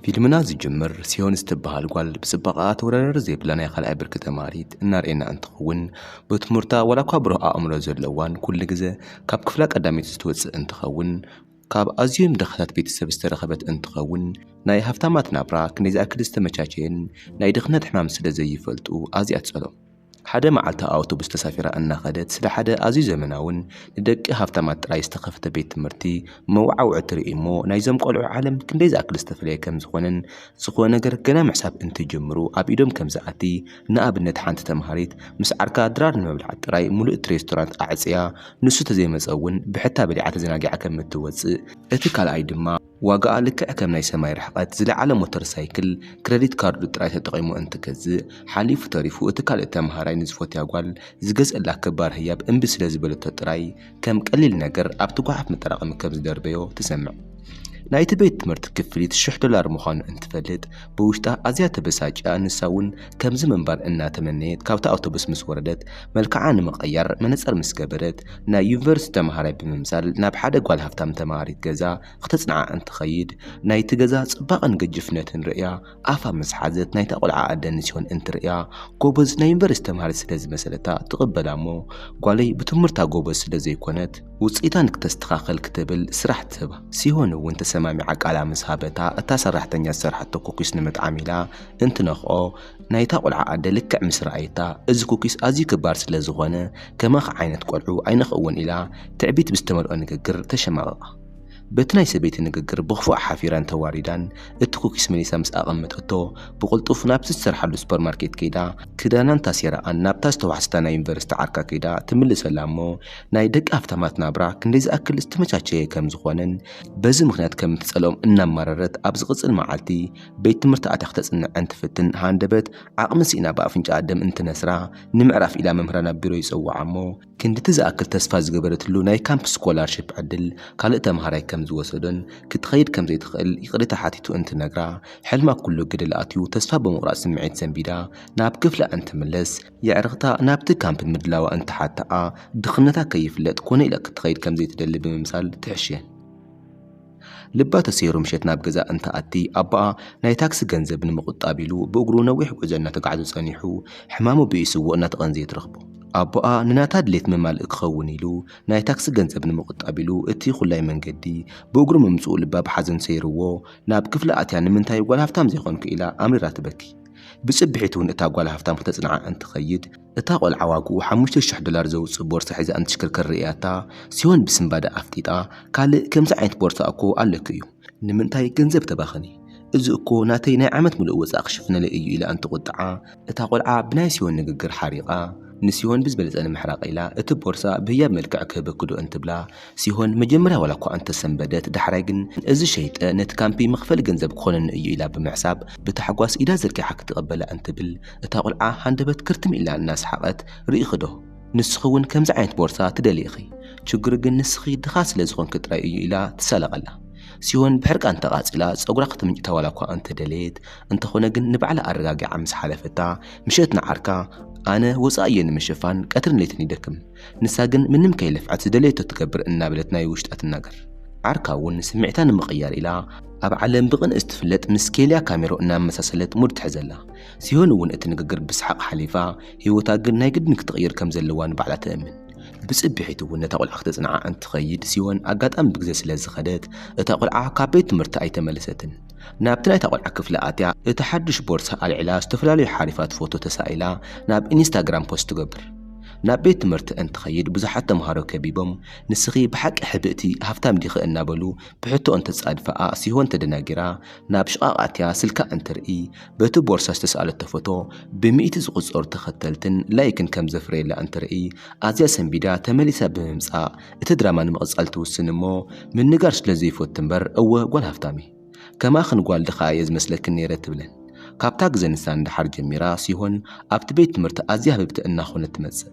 ፊልምና ዝጅምር ሲዮን ዝተብሃል ጓል ብፅባቐኣ ተወዳዳሪ ዘይብላ ናይ ካልኣይ ብርኪ ተምሃሪት እናርኤና እንትኸውን ብትምህርታ ዋላ እኳ ብሩህ ኣእምሮ ዘለዋን ኩሉ ግዘ ካብ ክፍላ ቀዳመይቲ ዝትወፅእ እንትኸውን ካብ ኣዝዮም ድኻታት ቤተሰብ ዝተረኸበት እንትኸውን ናይ ሃፍታማት ናብራ ክንደይ ዝኣክል ዝተመቻቸየን ናይ ድኽነት ሕማም ስለ ዘይፈልጡ ኣዝያ ትፀልኦም። ሓደ መዓልቲ ኣውቶቡስ ተሳፊራ እናኸደት ስለ ሓደ ኣዝዩ ዘመናውን ንደቂ ሃብታማት ጥራይ ዝተኸፍተ ቤት ትምህርቲ መወዓውዒ ትርኢ እሞ ናይዞም ቆልዑ ዓለም ክንደይ ዝኣክል ዝተፈለየ ከም ዝኾነን ዝኾነ ነገር ገና ምሕሳብ እንትጅምሩ ኣብ ኢዶም ከም ዝኣቲ ንኣብነት ሓንቲ ተምሃሪት ምስ ዓርካ ድራር ንምብላዕ ጥራይ ሙሉእ እቲ ሬስቶራንት ኣዕጽያ ንሱ ተዘይመጸ እውን ብሕታ በሊዓ ተዘናጊዓ ከም እትወጽእ እቲ ካልኣይ ድማ ዋጋኣ ልክዕ ከም ናይ ሰማይ ርሕቐት ዝለዓለ ሞተር ሳይክል፣ ክረዲት ካርዱ ጥራይ ተጠቒሙ እንትገዝእ፣ ሓሊፉ ተሪፉ እቲ ካልእ ተመሃራይ ንዝፈትያ ጓል ዝገዝኣላ ክባር ህያብ እምቢ ስለ ዝበለቶ ጥራይ ከም ቀሊል ነገር ኣብቲ ጓሓፍ መጠራቐሚ ከም ዝደርበዮ ትሰምዕ። ናይቲ ቤት ትምህርቲ ክፍሊት ሽሕ ዶላር ምዃኑ እንትፈልጥ ብውሽጣ ኣዝያ ተበሳጭያ ንሳ'ውን ከምዚ ምንባር እናተመነየት ካብታ ኣውቶቡስ ምስ ወረደት መልክዓ ንምቕያር መነጸር ምስ ገበረት ናይ ዩኒቨርሲቲ ተመሃራይ ብምምሳል ናብ ሓደ ጓል ሃብታም ተመሃሪት ገዛ ክተጽንዓ እንትኸይድ ናይቲ ገዛ ጽባቐን ግጅፍነትን ርእያ ኣፋ ምስ ሓዘት ናይታ ቆልዓ ኣደ ንጽዮን እንትርእያ ጎበዝ ናይ ዩኒቨርሲቲ ተመሃሪት ስለ ዝመሰለታ ትቕበላ እሞ ጓለይ ብትምህርታ ጎበዝ ስለ ዘይኮነት ውጽኢታ ንክተስተኻኽል ክትብል ስራሕ ትህባ። ጽዮን እውን ተሰማሚዓ ቃላ ምስ ሃበታ እታ ሰራሕተኛ ዝሰርሓቶ ኩኪስ ንምጥዓም ኢላ እንትነኽኦ ናይታ ቁልዓ ኣደ ልክዕ ምስ ረኣየታ እዚ ኩኪስ ኣዝዩ ክባር ስለ ዝኾነ ከማኺ ዓይነት ቆልዑ ኣይነኽእዎን ኢላ ትዕቢት ብዝተመልኦ ንግግር ተሸማቐቓ። በቲ ናይ ሰበይቲ ንግግር ብኽፉኣ ሓፊራን ተዋሪዳን እቲ ኩኪስ መሊሳ ምስ ኣቐመጠቶ ብቕልጡፍ ናብቲ ዝሰርሓሉ ሱፐርማርኬት ከይዳ ክዳናን ታሴራኣን ናብታ ዝተዋሕሰታ ናይ ዩኒቨርሲቲ ዓርካ ከይዳ ትምልሰላ እሞ ናይ ደቂ ሃፍታማት ናብራ ክንደይ ዝኣክል ዝተመቻቸየ ከም ዝኾነን በዚ ምኽንያት ከም እትጸልኦም እናማረረት ኣብ ዝቕጽል መዓልቲ ቤት ትምህርቲ ኣትያ ክተጽንዕ እንትፍትን ሃንደበት ዓቕሚ ስኢና ብኣፍንጫኣ ደም እንትነስራ ንምዕራፍ ኢላ መምህራ ናብ ቢሮ ይጸውዓ እሞ ክንድቲ ዝኣክል ተስፋ ዝገበረትሉ ናይ ካምፕ ስኮላርሽፕ ዕድል ካልእ ተማሃራይ ከም ዝወሰዶን ክትኸይድ ከም ዘይትኽእል ይቕሬታ ሓቲቱ እንትነግራ ሕልማ ኩሉ ገደል ኣትዩ ተስፋ ብምቑራጽ ስምዒት ሰንቢዳ ናብ ክፍላ እንትምለስ የዕርኽታ ናብቲ ካምፕ ምድላዋ እንትሓትኣ ድኽነታ ከይፍለጥ ኮነ ኢላ ክትኸይድ ከም ዘይትደሊ ብምምሳል ትሕሽን። ልባ ተሰይሩ ምሸት ናብ ገዛ እንትኣቲ ኣቦኣ ናይ ታክሲ ገንዘብ ንምቑጣብ ኢሉ ብእግሩ ነዊሕ ጉዕዞ እናተጓዕዘ ጸኒሑ ሕማሙ ብኢሱዎ እናተቐንዘየ ትረኽቦ። ኣቦኣ ንናታ ድሌት መማልኢ ክኸውን ኢሉ ናይ ታክሲ ገንዘብ ንምቑጣብ ኢሉ እቲ ኹላይ መንገዲ ብእግሩ ምምጽኡ ልባ ብሓዘን ሰይሩዎ ናብ ክፍላ ኣትያ ንምንታይ ጓል ሃፍታም ዘይኮንኩ ኢላ ኣምሪራ ትበኪ። ብጽብሒቱ'ውን እታ ጓል ሃፍታም ክተጽንዓ እንትኸይድ፣ እታ ቆልዓ ዋግኡ ሓሙሽተ ሽሕ ዶላር ዘውጽእ ቦርሳ ሒዛ እንትሽክርከር ርእያታ ሲዮን ብስንባደ ኣፍጢጣ ካልእ ከምዚ ዓይነት ቦርሳ እኮ ኣለኪ እዩ ንምንታይ ገንዘብ ተባኽኒ እዚ እኮ ናተይ ናይ ዓመት ምሉእ ወጻኢ ክሽፍነለይ እዩ ኢላ እንትቁጥዓ እታ ቆልዓ ብናይ ሲዮን ንግግር ሓሪቃ ንሲዮን ብዝበለጸ ንምሕራቅ ኢላ እቲ ቦርሳ ብህያብ መልክዕ ክህበኪ ዶ እንትብላ ሲሆን መጀመርያ ዋላኳ እንተሰንበደት ዳሕራይ ግን እዚ ሸይጠ ነቲ ካምፒ መኽፈሊ ገንዘብ ክኾነኒ እዩ ኢላ ብምሕሳብ ብታሕጓስ ኢዳ ዘርጊሓ ክትቕበላ እንትብል እታ ቁልዓ ሃንደበት ክርትም ኢላ እናሰሓቐት ርኢኺዶ ንስኺ እውን ከምዚ ዓይነት ቦርሳ ትደልዪ ኢኺ ችግሩ ግን ንስኺ ድኻ ስለ ዝኾንኪ ጥራይ እዩ ኢላ ትሳለቐላ። ሲሆን ብሕርቃን ተቓጺላ ጸጉራ ክትምንጭታ ዋላኳ እንተደለየት እንተኾነ ግን ንባዕላ ኣረጋጊዓ ምስ ሓለፈታ ምሸት ንዓርካ ኣነ ወጻኢ እየ ንምሽፋን ቀትርን ለይትን ይደክም ንሳ ግን ምንም ከይለፍዐት ዝደለየቶ ትገብር እናበለት ናይ ውሽጣ ትናገር። ዓርካ እውን ንስምዒታ ንምቕያር ኢላ ኣብ ዓለም ብቕንእስ ትፍለጥ ምስ ኬልያ ካሜሮ እናመሳሰለት ሙድ ትሕዘላ። ሲሆን እውን እቲ ንግግር ብሰሓቕ ሓሊፋ፣ ህይወታ ግን ናይ ግድን ክትቕይር ከም ዘለዋ ንባዕላ ትእምን። ብፅብሒት እውን ነታ ቖልዓ ክተፅንዓ እንትኸይድ ሲሆን ኣጋጣሚ ብግዘ ስለ ዝኸደት እታ ቖልዓ ካብ ቤት ትምህርቲ ኣይተመለሰትን። ናብቲ ናይታ ቖልዓ ክፍሊ ኣትያ እቲ ሓዱሽ ቦርሳ ኣልዒላ ዝተፈላለዩ ሓሪፋት ፎቶ ተሳኢላ ናብ ኢንስታግራም ፖስት ትገብር። ናብ ቤት ትምህርቲ እንትኸይድ ብዙሓት ተምሃሮ ከቢቦም ንስኺ ብሓቂ ሕብእቲ ሃፍታም ዲኺ እናበሉ ብሕቶ እንተጻድፋኣ ሲሆን ተደናጊራ ናብ ሽቓቕ ኣትያ ስልካ እንትርኢ በቲ ቦርሳ ዝተስኣለቶ ፎቶ ብሚእቲ ዝቑጸሩ ተኸተልትን ላይክን ከም ዘፍረየላ እንትርኢ ኣዝያ ሰንቢዳ ተመሊሳ ብምምጻእ እቲ ድራማ ንምቕጻል ትውስን እሞ ምንጋር ስለ ዘይፈቱ እምበር እወ ጓል ሃፍታም'የ ከማኽን ጓል ድኻ እየ ዝመስለክን ነይረ ትብለን። ካብታ ግዘ ንሳ ንደሓር ጀሚራ ሲሆን ኣብቲ ቤት ትምህርቲ ኣዝያ ህብብቲ እናኾነት ትመፅእ።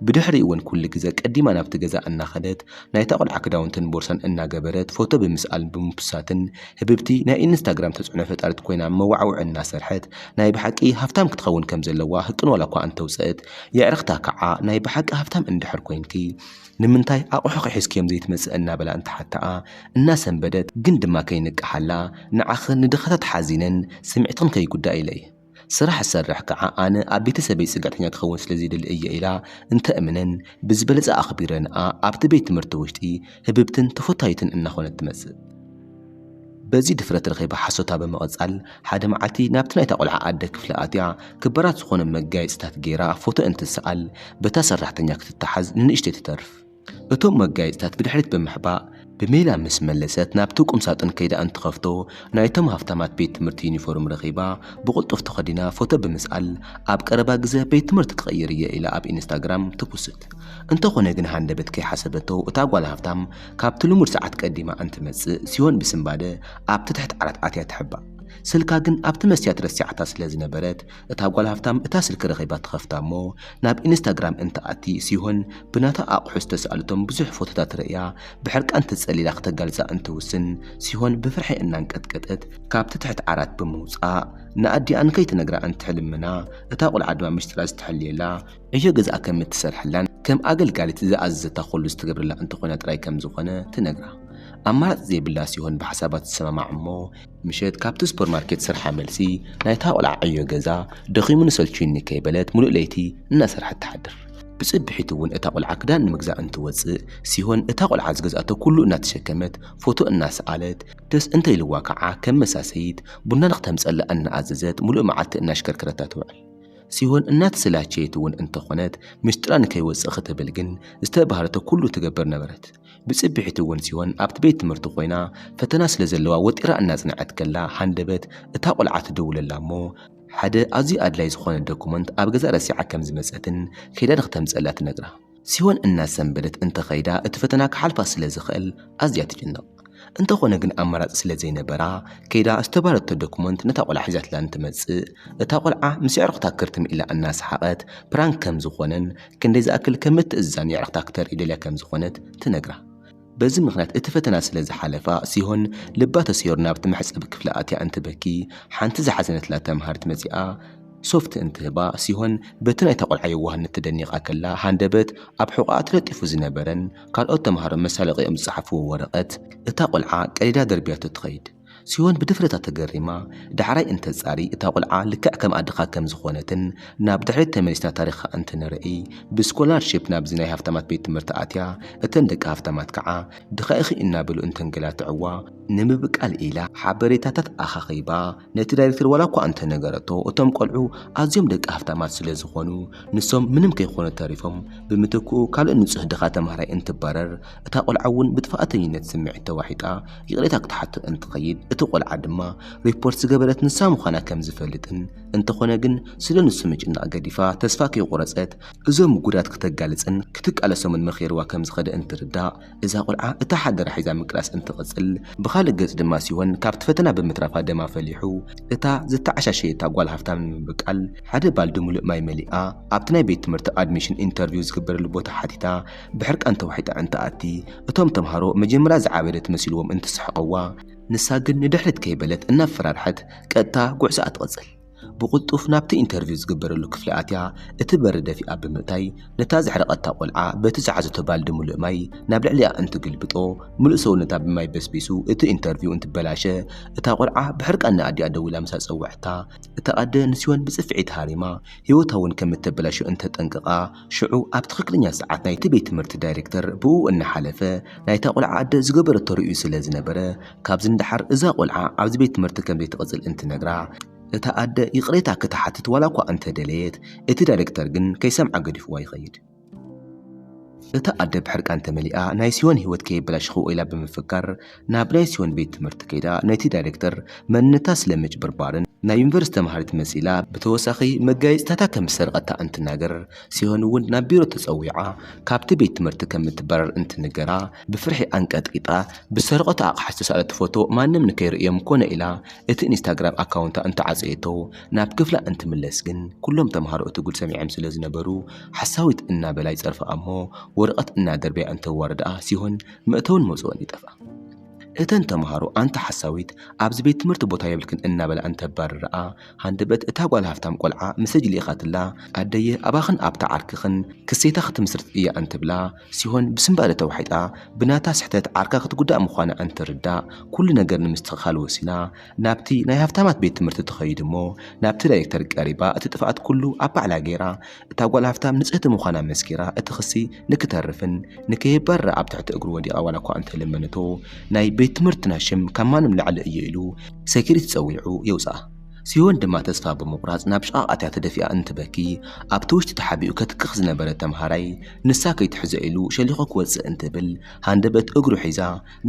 ብድሕሪኡ እውን ኩሉ ግዘ ቀዲማ ናብቲ ገዛ እናኸደት ናይታ ቆልዓ ክዳውንትን ቦርሳን እናገበረት ፎቶ ብምስኣልን ብምፑስታትን ህብብቲ ናይ ኢንስታግራም ተፅዕኖ ፈጣሪት ኮይና መዋዕውዒ እናሰርሐት ናይ ብሓቂ ሃፍታም ክትኸውን ከምዘለዋ ህቅን ዋላኳ እንተውፀእት የዕርኽታ ከዓ ናይ ብሓቂ ሃፍታም እንድሕር ኮይንኪ ንምንታይ ኣቑሑኺ ሒዝክዮም ዘይትመፅእ እናበላ እንትሓትኣ እናሰንበደት ግን ድማ ከይንቅሓላ ንዓኽን ንድኻታት ሓዚነን ስምዒትኽን ከይጉዳእ ኢለ'የ ስራሕ ዝሰርሕ ከዓ ኣነ ኣብ ቤተሰበይ ፅግዕተኛ ክኸውን ስለዘይደሊ እየ ኢላ እንተእምነን ብዝበለፀ ኣኽቢረንኣ ኣብቲ ቤት ትምህርቲ ውሽጢ ህብብትን ተፈታዊትን እናኾነት ትመፅእ። በዚ ድፍረት ረኺባ ሓሶታ ብምቕጻል፣ ሓደ መዓልቲ ናብቲ ናይታ ቆልዓ ኣደ ክፍሊ ኣትያ፣ ክበራት ዝኾነ መጋየጺታት ገይራ ፎቶ እንትስኣል፣ በታ ሰራሕተኛ ክትተሓዝ ንንእሽተይ ትተርፍ። እቶም መጋየጺታት ብድሕሪት ብምሕባእ፣ ብሜላ ምስ መለሰት ናብቲ ቁምሳጥን ከይዳ እንትኸፍቶ፣ ናይቶም ሃፍታማት ቤት ትምህርቲ ዩኒፎርም ረኺባ፣ ብቕልጡፍ ተኸዲና ፎቶ ብምስኣል፣ ኣብ ቀረባ ግዘ ቤት ትምህርቲ ክቕይር እየ ኢላ ኣብ ኢንስታግራም ትፑስት። እንተኾነ ግን ሃንደበት ከይሓሰበቶ እታ ጓል ሃፍታም፣ ካብቲ ልሙድ ሰዓት ቀዲማ እንትመጽእ ሲዮን ብስንባደ ኣብቲ ትሕቲ ዓራት ኣትያ ትሕባእ። ስልካ ግን ኣብቲ መስትያት ረሲዓታ ስለ ዝነበረት እታ ጓል ሃፍታም እታ ስልኪ ረኺባ ትኸፍታ እሞ ናብ ኢንስታግራም እንትኣቲ ሲሆን ብናታ ኣቑሑ ዝተሳእለቶም ብዙሕ ፎቶታት ርእያ ብሕርቃን ተጸሊላ ክተጋልጻ እንትውስን ሲሆን ብፍርሒ እናንቀጥቀጠት ካብቲ ትሕቲ ዓራት ብምውጻእ ንኣዲኣ እንከይትነግራ እንትሕልምና እታ ቁልዓ ድማ ምስጢራ ዝተሐልየላ ዕዮ ገዝኣ ከም እትሰርሐላን ከም ኣገልጋሊት ዝኣዘዘታ ኹሉ ዝትገብረላ እንተኾይና ጥራይ ከም ዝኾነ ትነግራ። ኣማራጺ ዘይብላ ሲሆን ብሓሳባ ትሰማማዕ እሞ፣ ምሸት ካብቲ ሱፐር ማርኬት ስርሓ መልሲ ናይታ ቖልዓ ዕዮ ገዛ ደኺሙኒ ሰልችዩኒ ከይበለት ሙሉእ ለይቲ እናሰርሐት ትሓድር። ብጽብሒቱ እውን እታ ቖልዓ ክዳን ንምግዛእ እንትወጽእ ሲሆን እታ ቖልዓ ዝገዝኣቶ ኩሉ እናተሸከመት ፎቶ እናሰኣለት ደስ እንተኢልዋ ከዓ ከም መሳሰይት ቡና ንክተምጸላ እናኣዘዘት ሙሉእ መዓልቲ እናሽከርከረታ ትውዕል። ሲሆን እናተሰላቸየት እውን እንተኾነት ምስጢራ ንከይወፅእ ክትብል ግን ዝተባህለቶ ኩሉ ትገብር ነበረት። ብፅብሒት እውን ሲሆን ኣብቲ ቤት ትምህርቲ ኮይና ፈተና ስለ ዘለዋ ወጢራ እናፅንዐት ከላ ሃንደበት እታ ቆልዓ ትድውለላ እሞ ሓደ ኣዝዩ ኣድላይ ዝኾነ ዶኩመንት ኣብ ገዛ ረሲዓ ከም ዝመፀትን ከይዳ ንክተምፀኣላ ትነግራ። ሲሆን እናሰንበደት እንተ ኸይዳ እቲ ፈተና ክሓልፋ ስለ ዝኽእል ኣዝያ ትጭነቕ። እንተኾነ ግን ኣማራጺ ስለ ዘይነበራ ከይዳ ዝተባህለቶ ዶክመንት ነታ ቆልዓ ሒዛትላ እንትመጽእ እታ ቆልዓ ምስ የዕርኽታ ክርትም ኢላ እናሰሓቐት ፕራንክ ከም ዝኾነን ክንደይ ዝኣክል ከም እትእዝዛን የዕርኽታ ክተርኢ ደልያ ከም ዝኾነት ትነግራ። በዚ ምኽንያት እቲ ፈተና ስለ ዝሓለፋ ሲሆን ልባ ተሰይሩ ናብቲ መሕጸቢ ክፍሊ ኣትያ እንትበኪ ሓንቲ ዝሓዘነትላ ተምሃሪት መጺኣ ሶፍቲ እንትህባ ሲሆን በቲ ናይታ ቆልዓ የዋህነት ተደኒቓ ከላ ሃንደበት ኣብ ሕቖኣ ተለጢፉ ዝነበረን ካልኦት ተምሃሮ መሳለቒኦም ዝጸሓፍዎ ወረቐት እታ ቆልዓ ቀዲዳ ደርብያቶ ትኸይድ ሲዮን ብድፍረታ ተገሪማ ዳሕራይ እንተጻሪ እታ ቁልዓ ልክዕ ከም ኣድኻ ከም ዝኾነትን ናብ ድሕሪት ተመሊስና ታሪኻ እንትንርኢ ብስኮላር ሽፕ ናብዚ ናይ ሃፍታማት ቤት ትምህርቲ ኣትያ እተን ደቂ ሃፍታማት ከዓ ድኻ ኢኺ እናበሉ እንተንገላትዕዋ ንምብቃል ኢላ ሓበሬታታት ኣኻኺባ ነቲ ዳይሬክተር ዋላ እኳ እንተነገረቶ እቶም ቆልዑ ኣዝዮም ደቂ ሃፍታማት ስለ ዝኾኑ ንሶም ምንም ከይኾኑ ተሪፎም ብምትክኡ ካልእ ንጹህ ድኻ ተምሃራይ እንትባረር እታ ቆልዓ እውን ብጥፍኣተኝነት ስምዒት ተዋሒጣ ይቕሬታ ክትሓቶ እንትኸይድ እቲ ቆልዓ ድማ ሪፖርት ዝገበረት ንሳ ምዃና ከም ዝፈልጥን እንተኾነ ግን ስለ ንሱ ምጭናቕ ገዲፋ ተስፋ ከይቆረጸት እዞም ምጉዳት ክተጋልጽን ክትቃለሶምን መኺርዋ ከም ዝኸደ እንትርዳእ እዛ ቆልዓ እታ ሓደራ ሒዛ ምቅላስ እንትቕጽል ብኻልእ ገጽ ድማ ሲሆን ካብቲ ፈተና ብምትራፋ ደማ ፈሊሑ እታ ዝተዓሻሸየታ ጓል ሃፍታም ንምብቃል ሓደ ባልዲ ሙሉእ ማይ መሊኣ ኣብቲ ናይ ቤት ትምህርቲ ኣድሚሽን ኢንተርቪው ዝግበረሉ ቦታ ሓቲታ ብሕርቃን ተዋሒጣ እንትኣቲ እቶም ተምሃሮ መጀመርያ ዝዓበደት መሲልዎም እንትስሕቐዋ ንሳ ግን ንድሕሪት ከይበለት እናፈራርሐት ቀጥታ ጉዕዞኣ ትቕጽል። ብቕልጡፍ ናብቲ ኢንተርቪው ዝግበረሉ ክፍሊ ኣትያ እቲ በሪ ደፊኣ ብምእታይ ነታ ዘሕረቐታ ቆልዓ በቲ ዝሓዘቶ ባልዲ ምሉእ ማይ ናብ ልዕሊኣ እንትግልብጦ ምሉእ ሰውነታ ብማይ በስቢሱ እቲ ኢንተርቪው እንትበላሸ እታ ቆልዓ ብሕርቃን ንኣዲኣ ደዊላ ምስ ኣጸውዐታ እታ ኣደ ንሲዮን ብጽፍዒ ተሃሪማ ህይወታ'ውን ከም እተበላሾ እንተጠንቅቓ ሽዑ ኣብ ትኽክለኛ ሰዓት ናይቲ ቤት ትምህርቲ ዳይሬክተር ብኡ እናሓለፈ ናይታ ቖልዓ ኣደ ዝገበረቶ ርእዩ ስለ ዝነበረ ካብዚ ንደሓር እዛ ቖልዓ ኣብዚ ቤት ትምህርቲ ከም ዘይትቕጽል እንትነግራ እታ ኣደ ይቕሬታ ክትሓትት ዋላ እኳ እንተ ደለየት እቲ ዳይሬክተር ግን ከይሰምዓ ገዲፍዋ ይኸይድ። እታ ኣደ ብሕርቃን ተመሊኣ ናይ ሲዮን ህይወት ከየበላሸኽዎ ኢላ ብምፍካር ናብ ናይ ሲዮን ቤት ትምህርቲ ከይዳ ነቲ ዳይረክተር መንነታ ስለ ምጭብርባርን ናይ ዩኒቨርስቲ ተምሃሪት መሲላ ብተወሳኺ መጋየፂታታ ከም ዝሰርቐታ እንትናገር ሲዮን እውን ናብ ቢሮ ተፀዊዓ ካብቲ ቤት ትምህርቲ ከም እትባረር እንትንገራ ብፍርሒ ኣንቀጥቂጣ ብዝሰረቐቶ ኣቕሓ ዝተሰኣለቶ ፎቶ ማንም ንከይርእዮም ኮነ ኢላ እቲ ኢንስታግራም ኣካውንታ እንተዓፀየቶ ናብ ክፍላ እንትምለስ ግን ኩሎም ተምሃሮ እቲ ጉድ ሰሚዖም ስለ ዝነበሩ ሓሳዊት እናበላ ይፀርፍኣ እሞ ወረቐት እናደርበያ እንተዋርድኣ ሲዮን መእተውን መውጽእን ይጠፍኣ። እተን ተመሃሮ ኣንቲ ሓሳዊት ኣብዚ ቤት ትምህርቲ ቦታ የብልክን እናበላ እንተባርርኣ፣ ሃንደበት እታ ጓል ሃፍታም ቆልዓ ምሰጅ ልኢኻትላ ኣደየ ኣባኽን ኣብታ ዓርክኽን ክሴታ ክትምስርት እያ እንትብላ፣ ሲሆን ብስንባደ ተዋሒጣ ብናታ ስሕተት ዓርካ ክትጉዳእ ምዃና እንትርዳእ ኩሉ ነገር ንምስትኽኻል ወሲና ናብቲ ናይ ሃፍታማት ቤት ትምህርቲ ትኸይድ'ሞ ናብቲ ዳይሬክተር ቀሪባ እቲ ጥፍኣት ኩሉ ኣብ ባዕላ ገይራ እታ ጓል ሃፍታም ንጽህቲ ምዃና መስኪራ እቲ ክሲ ንክተርፍን ንከይባረ ኣብ ትሕቲ እግሩ ወዲቓ ዋላ እኳ እንተለመነቶ ናይ ቤት ትምህርትና ሽም ካብ ማንም ላዕሊ እዩ ኢሉ ሰኪሪቲ ጸዊዑ የውጽኣ። ሲዮን ድማ ተስፋ ብምቑራጽ ናብ ሽቓቕ ኣትያ ተደፊኣ እንትበኪ ኣብቲ ውሽጢ ተሓቢኡ ከትክኽ ዝነበረ ተምሃራይ ንሳ ከይትሕዞ ኢሉ ሸሊኹ ክወጽእ እንትብል ሃንደበት እግሩ ሒዛ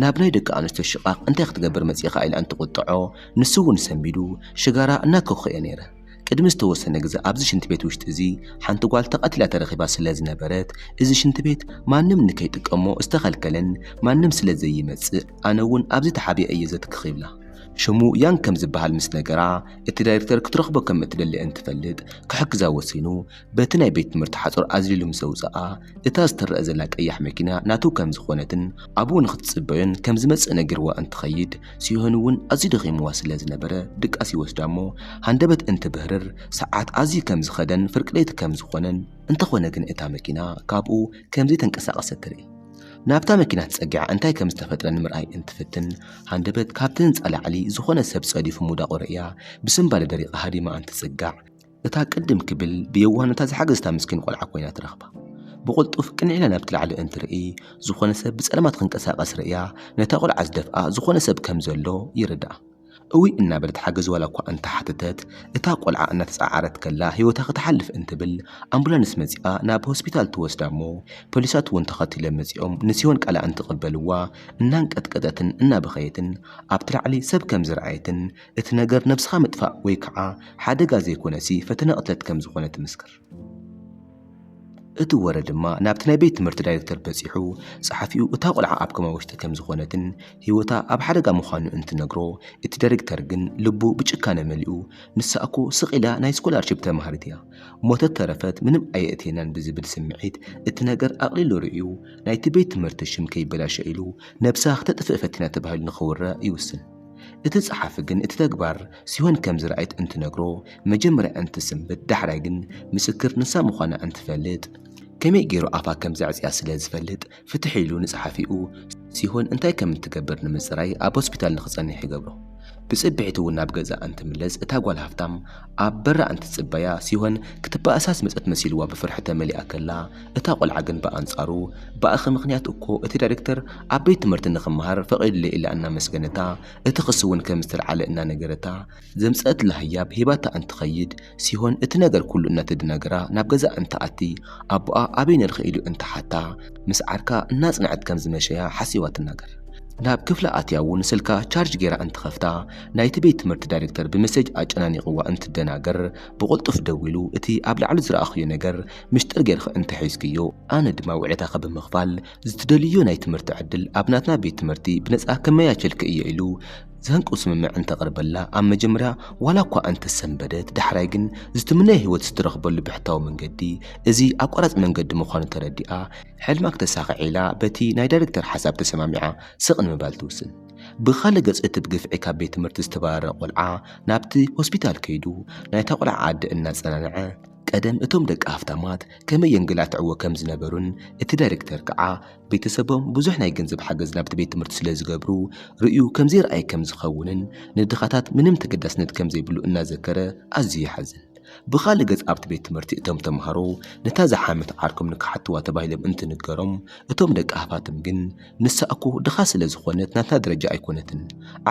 ናብ ናይ ደቂ ኣንስትዮ ሽቓቕ እንታይ ክትገብር መጺእኻ ኢላ እንትቑጥዖ ንሱ'ውን ሰንቢዱ ሽጋራ እናከኹኤ ነይረ። ቅድሚ ዝተወሰነ ግዘ ኣብዚ ሽንቲ ቤት ውሽጢ እዚ ሓንቲ ጓል ተቐቲላ ተረኺባ ስለ ዝነበረት እዚ ሽንቲ ቤት ማንም ንከይጥቀሞ ዝተኸልከለን ማንም ስለ ዘይመፅእ ኣነ እውን ኣብዚ ተሓቢኤ እየ ዘትክኽ ይብላ። ሽሙ ያን ከም ዝበሃል ምስ ነገራ እቲ ዳይሬክተር ክትረኽቦ ከም እትደሊ እንትፈልጥ ክሕግዛ ወሲኑ በቲ ናይ ቤት ትምህርቲ ሓጹር ኣዝሊሉ ምስ ኣውጽኣ፣ እታ ዝተረኣ ዘላ ቀያሕ መኪና ናቱ ከም ዝኾነትን ኣብኡ ንኽትጽበዮን ከም ዝመጽእ ነጊርዋ እንትኸይድ፣ ሲሆን እውን ኣዝዩ ደኺምዋ ስለ ዝነበረ ድቃስ ይወስዳ እሞ ሃንደበት እንትብህርር ሰዓት ኣዝዩ ከም ዝኸደን ፍርቂ ለይቲ ከም ዝኾነን፣ እንተኾነ ግን እታ መኪና ካብኡ ከም ዘይተንቀሳቐሰት ትርኢ። ናብታ መኪና ተጸጊዓ እንታይ ከም ዝተፈጥረ ንምርኣይ እንትፍትን፣ ሃንደበት ካብቲ ህንጻ ላዕሊ ዝኾነ ሰብ ጸዲፉ ምውዳቑ ርእያ ብስንባደ ደሪቓ ሃዲማ እንትጽጋዕ፣ እታ ቅድም ክብል ብየዋህነታ ዝሓገዝታ ምስኪን ቆልዓ ኮይና ትረኽባ። ብቕልጡፍ ቅንዕ ኢላ ናብቲ ላዕሊ እንትርኢ፣ ዝኾነ ሰብ ብጸልማት ክንቀሳቐስ ርእያ፣ ነታ ቆልዓ ዝደፍኣ ዝኾነ ሰብ ከም ዘሎ ይርድኣ። እውይ እናበለት ሓገዝ ዋላ እኳ እንተሓተተት፣ እታ ቆልዓ እናተጻዓረት ከላ ህይወታ ክትሓልፍ እንትብል ኣምቡላንስ መጺኣ ናብ ሆስፒታል ትወስዳ እሞ ፖሊሳት እውን ተኸቲሎም መጺኦም ንሲዮን ቃላ እንትቕበልዋ እናንቀጥቀጠትን እናበኸየትን ኣብቲ ላዕሊ ሰብ ከም ዝረኣየትን እቲ ነገር ነብስኻ ምጥፋእ ወይ ከዓ ሓደጋ ዘይኮነሲ ፈተነ ቅትለት ከም ዝኾነ ትምስክር። እቲ ወረ ድማ ናብቲ ናይ ቤት ትምህርቲ ዳይሬክተር በጺሑ ጸሓፊኡ እታ ቆልዓ ኣብ ኮማ ውሽጢ ከም ዝኾነትን ህይወታ ኣብ ሓደጋ ምዃኑ እንትነግሮ እቲ ዳይሬክተር ግን ልቡ ብጭካነ መሊኡ ንሳ እኮ ስቕ ኢላ ናይ ስኮላርሺፕ ተማሃሪት እያ ሞተት ተረፈት ምንም ኣየእትየናን ብዝብል ስምዒት እቲ ነገር ኣቕሊሉ ርእዩ ናይቲ ቤት ትምህርቲ ሽም ከይበላሸ ኢሉ ነብሳ ክተጥፍእ ፈቲና ተባሂሉ ንኽውረ ይውስን። እቲ ጸሓፊ ግን እቲ ተግባር ሲሆን ከም ዝረኣየት እንትነግሮ መጀመርያ እንትስንብድ ዳሕራይ ግን ምስክር ንሳ ምዃና እንትፈልጥ ከመይ ገይሩ ኣፋ ከም ዘዕጽያ ስለ ዝፈልጥ ፍትሕ ኢሉ ንጸሓፊኡ ሲሆን እንታይ ከም እትገብር ንምጽራይ ኣብ ሆስፒታል ንኽጸንሕ ይገብሮ። ብጽብሒቱ እውን ናብ ገዝኣ እንትምለስ እታ ጓል ሃፍታም ኣብ በራ እንትጽበያ ሲሆን ክትበኣሳ ዝመጸት መሲልዋ ብፍርሒ ተመሊኣ ከላ፣ እታ ቆልዓ ግን ብኣንጻሩ፣ ብኣኺ ምኽንያት እኮ እቲ ዳይረክተር ኣብ ቤት ትምህርቲ ንኽመሃር ፈቒዱለይ ኢላ እናመስገነታ፣ እቲ ክሲ'ውን ከም ዝተልዓለ እናነገረታ፣ ዘምጸኣትላ ህያብ ሂባታ እንትኸይድ፣ ሲሆን እቲ ነገር ኩሉ እናተደናገራ ናብ ገዛኣ እንትኣቲ፣ ኣቦኣ ኣበይ ነርኺ ኢሉ እንትሓታ፣ ምስ ዓርካ እናጽንዐት ከም ዝመሸያ ሓሲባ ትናገር። ናብ ክፍላ ኣትያ'ውን ስልካ ቻርጅ ገይራ እንትኸፍታ፣ ናይቲ ቤት ትምህርቲ ዳይሬክተር ብመሴጅ ኣጨናኒቕዋ እንትደናገር፣ ብቕልጡፍ ደዊሉ እቲ ኣብ ላዕሊ ዝረኣኽዮ ነገር ምሽጥር ጌርኺ እንተ ሒዝክዮ፣ ኣነ ድማ ውዕለታኺ ብምኽፋል ዝትደልይዮ ናይ ትምህርቲ ዕድል ኣብ ናትና ቤት ትምህርቲ ብነጻ ከመያቸልኪ እየ ኢሉ ዘህንቅው ስምምዕ እንተቕርበላ ኣብ መጀመርያ ዋላ እኳ እንተ ሰንበደት ዳሕራይ ግን ዝትምነዮ ህይወት ዝትረኽበሉ ብሕታዊ መንገዲ እዚ ኣቋራጺ መንገዲ ምዃኑ ተረዲኣ ሕልማ ክተሳኽዕ ኢላ በቲ ናይ ዳይሬክተር ሓሳብ ተሰማሚዓ ስቕ ንምባል ትውስን። ብኻልእ ገፅ እቲ ብግፍዒ ካብ ቤት ትምህርቲ ዝተባረረ ቆልዓ ናብቲ ሆስፒታል ከይዱ ናይታ ቆልዓ ኣደ እናፀናንዐ ቀደም እቶም ደቂ ሃፍታማት ከመይ የንገላትዕዎ ከም ዝነበሩን እቲ ዳይሬክተር ከዓ ቤተሰቦም ብዙሕ ናይ ገንዘብ ሓገዝ ናብቲ ቤት ትምህርቲ ስለ ዝገብሩ ርእዩ ከም ዘይርኣይ ከም ዝኸውንን ንድኻታት ምንም ተገዳስነት ከም ዘይብሉ እናዘከረ ኣዝዩ ይሓዝን። ብኻልእ ገፅ ኣብቲ ቤት ትምህርቲ እቶም ተምሃሮ ነታ ዝሓመት ዓርኮም ንክሓትዋ ተባሂሎም እንትንገሮም እቶም ደቂ ሃፋትም ግን ንሳ እኮ ድኻ ስለ ዝኾነት ናትና ደረጃ ኣይኮነትን፣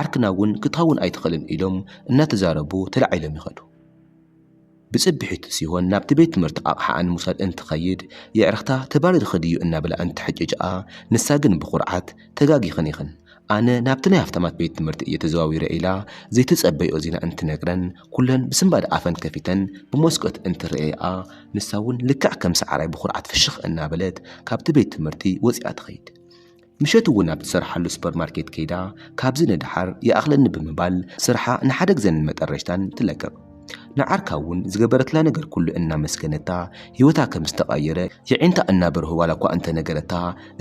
ዓርክና እውን ክትኸውን ኣይትኽእልን ኢሎም እናተዛረቡ ተላዒሎም ይኸዱ። ብፅብሒቱ ሲሆን ናብቲ ቤት ትምህርቲ ኣቕሓኣ ንምውሳድ እንትኸይድ የዕርኽታ ተባሪርኺ ድዩ እናበላ እንትሕጭጭኣ ንሳ ግን ብኹርዓት ተጋጊኽን ኢኽን ኣነ ናብቲ ናይ ሃፍታማት ቤት ትምህርቲ እየ ተዘዋዊረ ኢላ ዘይተፀበይኦ ዜና እንትነግረን ኩለን ብስንባደ ኣፈን ከፊተን ብመስኮት እንትርእየኣ ንሳ እውን ልክዕ ከም ሰዓራይ ብኹርዓት ፍሽኽ እናበለት ካብቲ ቤት ትምህርቲ ወፂኣ ትኸይድ። ምሸት እውን ኣብ ትሰርሓሉ ሱፐር ማርኬት ከይዳ ካብዚ ንደሓር ይኣኽለኒ ብምባል ስርሓ ንሓደ ግዘን መጠረሽታን ትለቅቕ። ንዓርካ እውን ዝገበረትላ ነገር ኩሉ እናመስገነታ ህይወታ ከም ዝተቐየረ የዒንታ እናበርሁ ዋላ እኳ እንተነገረታ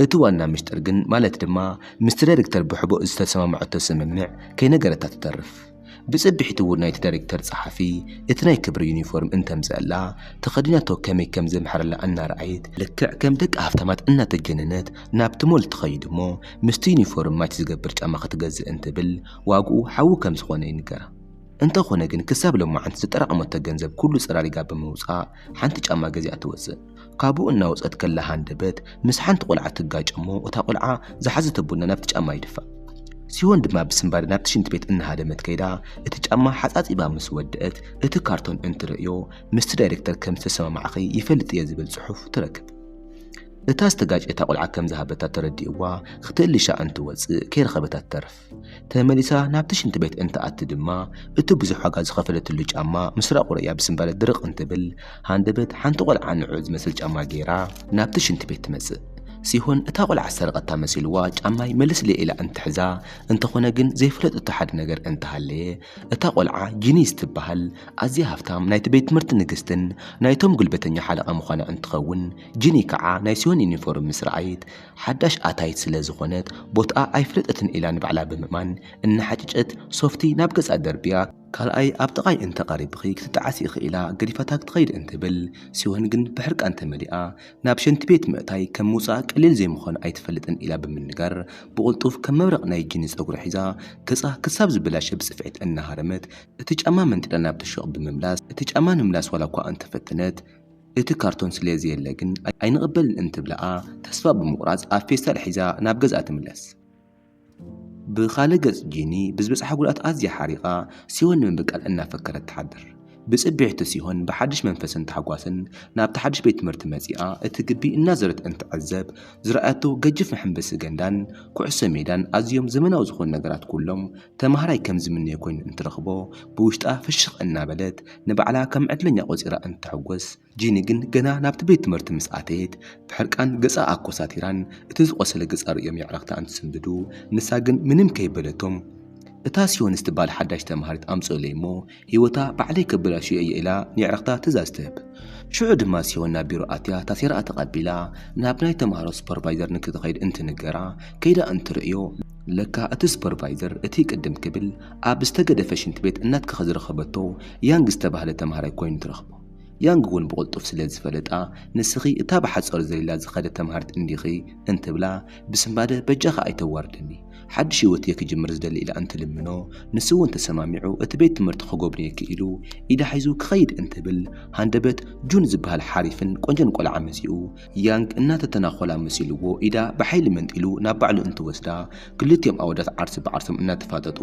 እቲ ዋና ምስጢር ግን ማለት ድማ ምስ ትረድክተር ብሕቡእ ዝተሰማምዐቶ ስምምዕ ከይነገረታ ትተርፍ። ብጽብሒቱ እውን ናይቲ ዳይረክተር ጸሓፊ እቲ ናይ ክብሪ ዩኒፎርም እንተምጸኣላ ተኸዲናቶ ከመይ ከም ዘምሕረላ እናረኣየት፣ ልክዕ ከም ደቂ ሃፍታማት እናተጀነነት ናብቲ ሞል ትኸይድ እሞ ምስቲ ዩኒፎርም ማች ዝገብር ጫማ ክትገዝእ እንትብል ዋግኡ ሓዊ ከም ዝኾነ ይንገራ። እንተኾነ ግን ክሳብ ሎማዓንቲ ዘጠራቐመቶ ገንዘብ ኩሉ ጸራሪጋ ብምውጻእ ሓንቲ ጫማ ገዚኣ ትወጽእ። ካብኡ እናወጸት ከላ ሃንደበት ምስ ሓንቲ ቆልዓ ትጋጭ እሞ እታ ቆልዓ ዝሓዘቶ ቡና ናብቲ ጫማ ይድፋእ። ሲዮን ድማ ብስንባደ ናብቲ ሽንቲ ቤት እናሃደመት ከይዳ እቲ ጫማ ሓጻጺባ ምስ ወደእት እቲ ካርቶን እንትርእዮ ምስቲ ዳይረክተር ከም ዝተሰማማዕኺ ይፈልጥ እየ ዝብል ጽሑፍ ትረክብ። እታ ዝተጋጨታ ቆልዓ ከም ዝሃበታ ተረዲእዋ ክትእልሻ እንትወጽእ ከይረኸበታ ትተርፍ። ተመሊሳ ናብቲ ሽንቲ ቤት እንትኣቲ ድማ እቲ ብዙሕ ዋጋ ዝኸፈለትሉ ጫማ ምስ ራቑረያ ብስምባለ ድርቕ እንትብል ሃንደበት ሓንቲ ቆልዓ ንዕኡ ዝመስል ጫማ ገይራ ናብቲ ሽንቲ ቤት ትመጽእ። ሲሆን እታ ቆልዓ ዝሰረቐታ መሲልዋ ጫማይ መልስለይ ኢላ እንትሕዛ፣ እንተኾነ ግን ዘይፈለጠቶ ሓደ ነገር እንተሃለየ እታ ቆልዓ ጂኒ ዝትበሃል ኣዝያ ሃፍታም ናይቲ ቤት ትምህርቲ ንግስትን ናይቶም ጉልበተኛ ሓለቓ ምዃና እንትኸውን ጂኒ ከዓ ናይ ሲሆን ዩኒፎርም ምስ ረኣየት ሓዳሽ ኣታይት ስለ ዝኾነት ቦትኣ ኣይፍለጠትን ኢላ ንባዕላ ብምእማን እናሓጨጨት ሶፍቲ ናብ ገጻ ደርብያ፣ ካልኣይ ኣብ ጥቓይ እንተ ቐሪብኺ ክትጠዓሲ ኢኺ ኢላ ገዲፋታ ክትኸይድ እንትብል፣ ሲሆን ግን ብሕርቃን ተመሊኣ ናብ ሸንቲ ቤት ምእታይ ከም ምውጻእ ቀሊል ዘይምዃኑ ኣይትፈልጥን ኢላ ብምንጋር ብቕልጡፍ ከም መብረቕ ናይ ጂኒ ጸጉራ ሒዛ ገጻ ክሳብ ዝበላሸ ብጽፍዒት እናሃረመት እቲ ጫማ መንጢላ ናብቲ ሹቕ ብምምላስ እቲ ጫማ ንምምላስ ዋላኳ እንተፈተነት እቲ ካርቶን ስለ ዘየለ ግን ኣይንቕበልን እንትብላኣ ተስፋ ብምቑራጽ ኣብ ፌስታል ሒዛ ናብ ገዝኣ ትምለስ። ብኻልእ ገጽ ጂኒ ብዝበጽሓ ጉድኣት ኣዝያ ሓሪቓ ሲሆን ንምብቃል እናፈከረት ትሓድር። ብጽብሒቱ ሲሆን ብሓድሽ መንፈስን ታሕጓስን ናብቲ ሓድሽ ቤት ትምህርቲ መጺኣ እቲ ግቢ እናዞረት እንትዕዘብ ዝረኣያቶ ገጅፍ መሐንበሲ ገንዳን ኩዕሶ ሜዳን ኣዝዮም ዘመናዊ ዝኾኑ ነገራት ኩሎም ተማሃራይ ከም ዝምነዮ ኮይኑ እንትረኽቦ ብውሽጣ ፍሽኽ እናበለት ንባዕላ ከም ዕድለኛ ቆጺራ እንትትሕጎስ፣ ጂኒ ግን ገና ናብቲ ቤት ትምህርቲ ምስ ኣተየት ብሕርቃን ገጻ ኣኮሳቲራን እቲ ዝቖሰለ ገጻ ርእዮም የዕረኽታ እንትስንብዱ ንሳ ግን ምንም ከይበለቶም እታ ሲዮን ዝትብሃል ሓዳሽ ተማሃሪት ኣምጽኡለይ እሞ ህይወታ ባዕለይ ከበላሽዮ እየ ኢላ ንየዕርኽታ ትእዛዝ ትህብ። ሽዑ ድማ ሲዮን ናብ ቢሮ ኣትያ ታሴራኣ ተቐቢላ ናብ ናይ ተማሃሮ ሱፐርቫይዘር ንክትኸይድ እንትንገራ ከይዳ እንትርእዮ፣ ለካ እቲ ሱፐርቫይዘር እቲ ቅድም ክብል ኣብ ዝተገደፈ ሽንቲ ቤት እናትከኸ ዝረኸበቶ ያንግ ዝተባህለ ተማሃራይ ኮይኑ ትረኽቦ። ያንግ እውን ብቕልጡፍ ስለ ዝፈለጣ ንስኺ እታ ብሓፃሩ ዘሊላ ዝኸደት ተማሃሪት እንዲኺ እንትብላ ብስንባደ በጃኻ ኣይተዋርደኒ፣ ሓድሽ ህይወት'የ ክጅምር ዝደሊ ኢላ እንትልምኖ፣ ንሱ'ውን ተሰማሚዑ እቲ ቤት ትምህርቲ ክጎብንየኪ ኢሉ ኢዳ ሒዙ ክኸይድ እንትብል፣ ሃንደበት ጁን ዝበሃል ሓሪፍን ቆንጆን ቆልዓ መጺኡ፣ ያንግ እናተተናኾላ መሲሉዎ ኢዳ ብሓይሊ መንጢሉ ናብ ባዕሉ እንትወስዳ፣ ክልቲኦም ኣወዳት ዓርሲ ብዓርሶም እናተፋጠጡ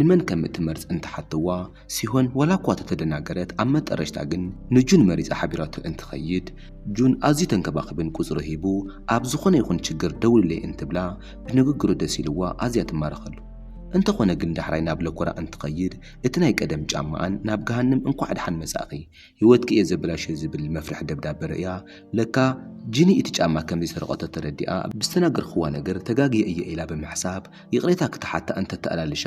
ንመን ከምእትመርጽ እንትሓትዋ፣ ሲሆን ዋላኳ ተተደናገረት ኣብ መጠረሽታ ግን ንጁን መሪጻ ሓቢራቶ እንትኸይድ ጁን ኣዝዩ ተንከባኺቡን ቁጽሩ ሂቡ ኣብ ዝኾነ ይኹን ችግር ደውልለይ እንትብላ ብንግግሩ ደስ ኢልዋ ኣዝያ ትማረኸሉ እንተኾነ ግን ዳሕራይ ናብ ለኮራ እንትኸይድ እቲ ናይ ቀደም ጫማኣን ናብ ገሃንም እንኳዕ ድሓን መጻእኺ ሂወትኪ እየ ዘበላሽዮ ዝብል መፍርሒ ደብዳበ ርእያ ለካ ጂኒ እቲ ጫማ ከምዘይሰረቐቶ ተረዲኣ ብዝተናገርክዋ ነገር ተጋግየ እየ ኢላ ብምሕሳብ ይቕሬታ ክትሓታ እንተተኣላልሻ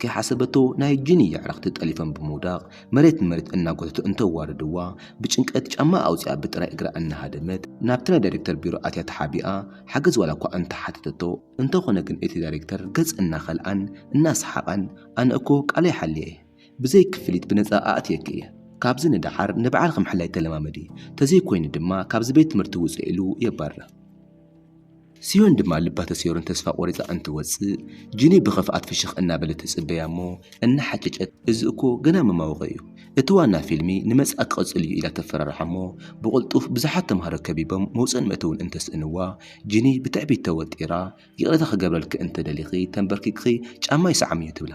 ከይሓሰበቶ ናይ እጁን የዕርኽቲ ጠሊፎም ብምውዳቕ መሬት ንመሬት እናጎተቱ እንተዋርድዋ ብጭንቀት ጫማኣ ኣውፂኣ ብጥራይ እግራ እናሃደመት ናብቲ ናይ ዳይሬክተር ቢሮ ኣትያ ተሓቢኣ ሓገዝ ዋላ እኳ እንተሓተተቶ እንተኾነ ግን እቲ ዳይሬክተር ገፅ እናኸልኣን እናሰሓቐን ኣነ እኮ ቃለይ ሓልየ እየ ብዘይ ክፍሊት ብነፃ ኣእትየኪ እየ ካብዚ ንደሓር ንባዕልኺ ምሕላይ ተለማመዲ ተዘይኮይኑ ድማ ካብዚ ቤት ትምህርቲ ውፅእ ኢሉ የባርር። ስዮን ድማ ልባ ተሰይሩን ተስፋ ቆሪጻ እንትወጽእ ጂኒ ብኽፍኣት ፍሽኽ እናበለት ትጽበያ እሞ እናሓጨጨት እዚ እኮ ገና መማወቂ እዩ እቲ ዋና ፊልሚ ንመጻኢ ክቕጽል እዩ ኢላ ተፈራርሓ እሞ ብቕልጡፍ ብዙሓት ተምሃሮ ከቢቦም መውጽእን መእተውን እንተስእንዋ ጂኒ ብትዕቢት ተወጢራ ይቕሬታ ክገብረልኪ እንተደሊኺ ተንበርኪኽኪ ጫማይ ሰዓምዮ ትብላ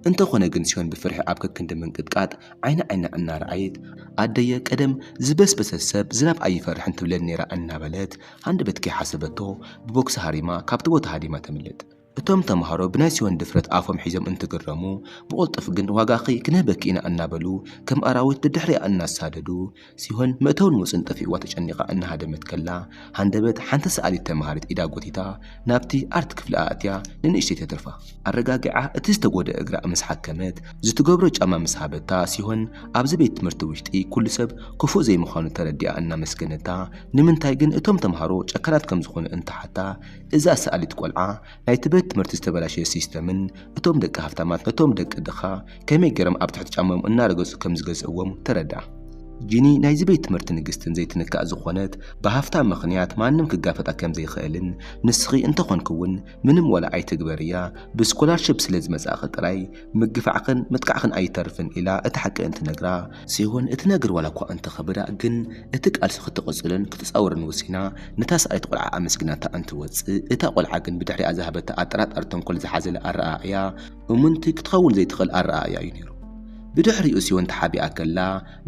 እንተኾነ ግን ስዮን ብፍርሒ ኣብ ከክንዲ ምንቅጥቃጥ ዓይኒ ዓይና እናረኣየት ኣደየ ቀደም ዝበስበሰ ሰብ ዝናብ ኣይፈርሕን ትብለኒ ነይራ እናበለት ሃንደበት ከይሓሰበቶ ብቦክሲ ሃሪማ ካብቲ ቦታ ሃዲማ ተምልጥ። እቶም ተምሃሮ ብናይ ሲዮን ድፍረት ኣፎም ሒዞም እንትግረሙ፣ ብቕልጡፍ ግን ዋጋኺ ክንህበኪ ኢና እናበሉ ከም ኣራዊት ደድሕሪኣ እናሳደዱ፣ ሲሆን መእተውን ወጽን ጠፊእዋ ተጨኒቓ እናሃደመት ከላ፣ ሃንደበት ሓንቲ ሰኣሊት ተምሃሪት ኢዳ ጎቲታ፣ ናብቲ ኣርት ክፍሊ ኣእትያ ንንእሽተይ ተትርፋ ኣረጋጊዓ እቲ ዝተጎደ እግራ ምስ ሓከመት ዝትገብሮ ጫማ ምስ ሃበታ ሲሆን ኣብዚ ቤት ትምህርቲ ውሽጢ ኩሉ ሰብ ክፉእ ዘይምዃኑ ተረዲኣ እናመስገነታ ንምንታይ ግን እቶም ተምሃሮ ጨካናት ከም ዝኾኑ እንትሓታ እዛ ሰኣሊት ቆልዓ ናይቲ ቤት ትምህርቲ ዝተበላሸየ ሲስተምን እቶም ደቂ ሃፍታማት ነቶም ደቂ ድኻ ከመይ ገይሮም ኣብ ትሕቲ ጫምኦም እናረገጹ ከም ዝገዝእዎም ተረዳእ። ጂኒ ናይዚ ቤት ትምህርቲ ንግስትን ዘይትንካእ ዝኾነት ብሃፍታ ምኽንያት ማንም ክጋፈጣ ከም ዘይኽእልን ንስኺ እንተ ኾንኪ እውን ምንም ዋላ ኣይትግበርያ ብስኮላርሺፕ ስለ ዝመጻእኺ ጥራይ ምግፋዕኽን ምጥቃዕኽን ኣይተርፍን ኢላ እቲ ሓቂ እንትነግራ ሲሆን እቲ ነገር ዋላ እኳ እንተ ኸበዳ ግን እቲ ቃልሲ ክትቕጽሎን ክትጻወርን ወሲና ነታ ሰኣይቲ ቆልዓ ኣመስጊናታ እንትወጽእ እታ ቆልዓ ግን ብድሕሪኣ ዝሃበታ ኣጠራጣሪ ተንኮል ዝሓዘለ ኣረኣእያ እሙንቲ ክትኸውን ዘይትኽእል ኣረኣእያ እዩ ነይሩ። ብድሕሪኡ ሲዮን ተሓቢኣ ከላ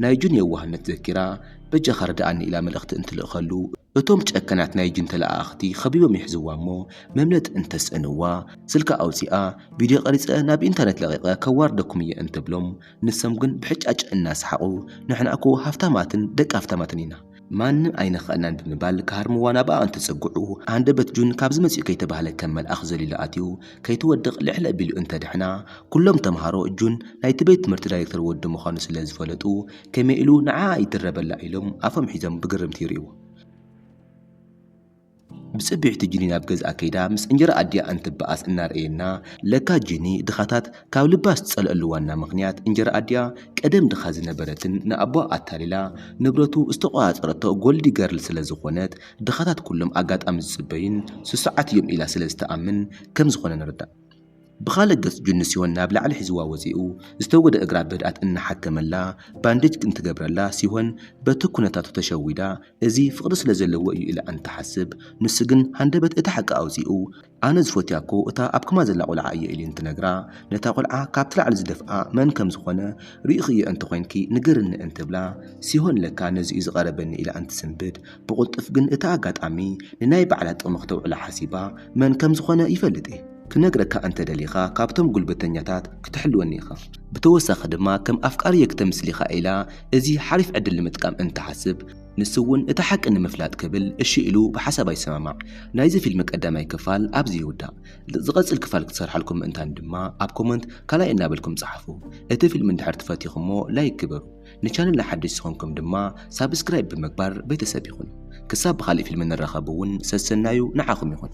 ናይ ጁን የዋህነት ዘኪራ፣ በጃኻ ርድኣኒ ኢላ መልእኽቲ እንትልእከሉ፣ እቶም ጨካናት ናይ ጁን ተለኣኣኽቲ ከቢቦም ይሕዝዋ እሞ መምለጢ እንተስእንዋ፣ ስልካ ኣውጺኣ፣ ቪድዮ ቀሪጸ ናብ ኢንተርነት ለቒቐ ከዋርደኩም እየ እንትብሎም፣ ንሶም ግን ብሕጫጭ እናሰሓቑ፣ ንሕና'ኮ ሃፍታማትን ደቂ ሃፍታማትን ኢና። ማንም ኣይነኽኣልናን ብምባል ክሃርምዋ ናብኣ እንትጽግዑ፣ ሃንደበት ጁን ካብዚ መጺኡ ከይተባህለ ከም መልኣኽ ዘሊሉ ኣትዩ፣ ከይትወድቕ ልዕል ኣቢሉ እንተደሕና፣ ኩሎም ተመሃሮ ጁን ናይቲ ቤት ትምህርቲ ዳይረክተር ወዲ ምዃኑ ስለ ዝፈለጡ፣ ከመይ ኢሉ ንዓኣ ይድረበላ ኢሎም ኣፎም ሒዞም ብግርምቲ ይርእይዎ። ብጽብሕቲ ጂኒ ናብ ገዝኣ ከይዳ ምስ እንጀራ ኣዲኣ እንትበኣስ እናርኣየና፣ ለካ ጂኒ ድኻታት ካብ ልባ ዝጸልኣሉ ዋና ምኽንያት እንጀራ ኣዲኣ ቀደም ድኻ ዝነበረትን ንኣቦኣ ኣታሊላ ንብረቱ ዝተቖጻጸረቶ ጎልዲ ገርል ስለ ዝኾነት ድኻታት ኩሎም ኣጋጣሚ ዝጽበዩን ስሱዓት እዮም ኢላ ስለ ዝተኣምን ከም ዝኾነ ንርዳእ። ብኻልእ ገፅ ጁንስዮን ናብ ላዕሊ ሒዝዋ ወፂኡ ዝተጎድኣ እግራ ብህድኣት እናሓከመላ ባንዴጅ እንትገብረላ ሲሆን በቲ ኩነታቱ ተሸዊዳ እዚ ፍቅሪ ስለዘለዎ እዩ ኢላ እንትትሓስብ ንሱ ግን ሃንደበት እቲ ሓቂ ኣውፂኡ ኣነ ዝፎትያ እኮ እታ ኣብ ክማ ዘላ ቆልዓ እየ ኢሊ እንትነግራ ነታ ቆልዓ ካብቲ ላዕሊ ዝደፍኣ መን ከምዝኾነ ሪኢኽዮ እንተኾይንኪ ንገርኒ እንትብላ ሲሆን ለካ ነዚ እዩ ዝቀረበኒ ኢላ እንትትስንብድ ብቕልጡፍ ግን እቲ ኣጋጣሚ ንናይ ባዕላ ጥቕሚ ክተውዕሎ ሓሲባ መን ከም ዝኾነ ይፈልጥ እየ ክነግረካ እንተ ደሊኻ ካብቶም ጉልበተኛታት ክትሕልወኒ ኢኻ ብተወሳኺ ድማ ከም ኣፍቃሪየይ ክተምስሊኻ ኢላ እዚ ሓሪፍ ዕድል ንምጥቃም እንትሓስብ ንሱ እውን እቲ ሓቂ ንምፍላጥ ክብል እሺ ኢሉ ብሓሳባ ይሰማማዕ ናይዚ ፊልሚ ቀዳማይ ክፋል ኣብዚ ይውዳእ ዝቐጽል ክፋል ክትሰርሓልኩም ምእንታን ድማ ኣብ ኮመንት ካልኣይ እናበልኩም ጸሓፉ እቲ ፊልሚ እንድሕር ትፈቲኹሞ ላይክ ግበሩ ንቻነልና ሓድሽ ዝኾንኩም ድማ ሳብስክራይብ ብምግባር ቤተሰብ ይኹኑ። ክሳብ ብኻልእ ፊልም ንራኸብ እውን ሰሰናዩ ንዓኹም ይኹን።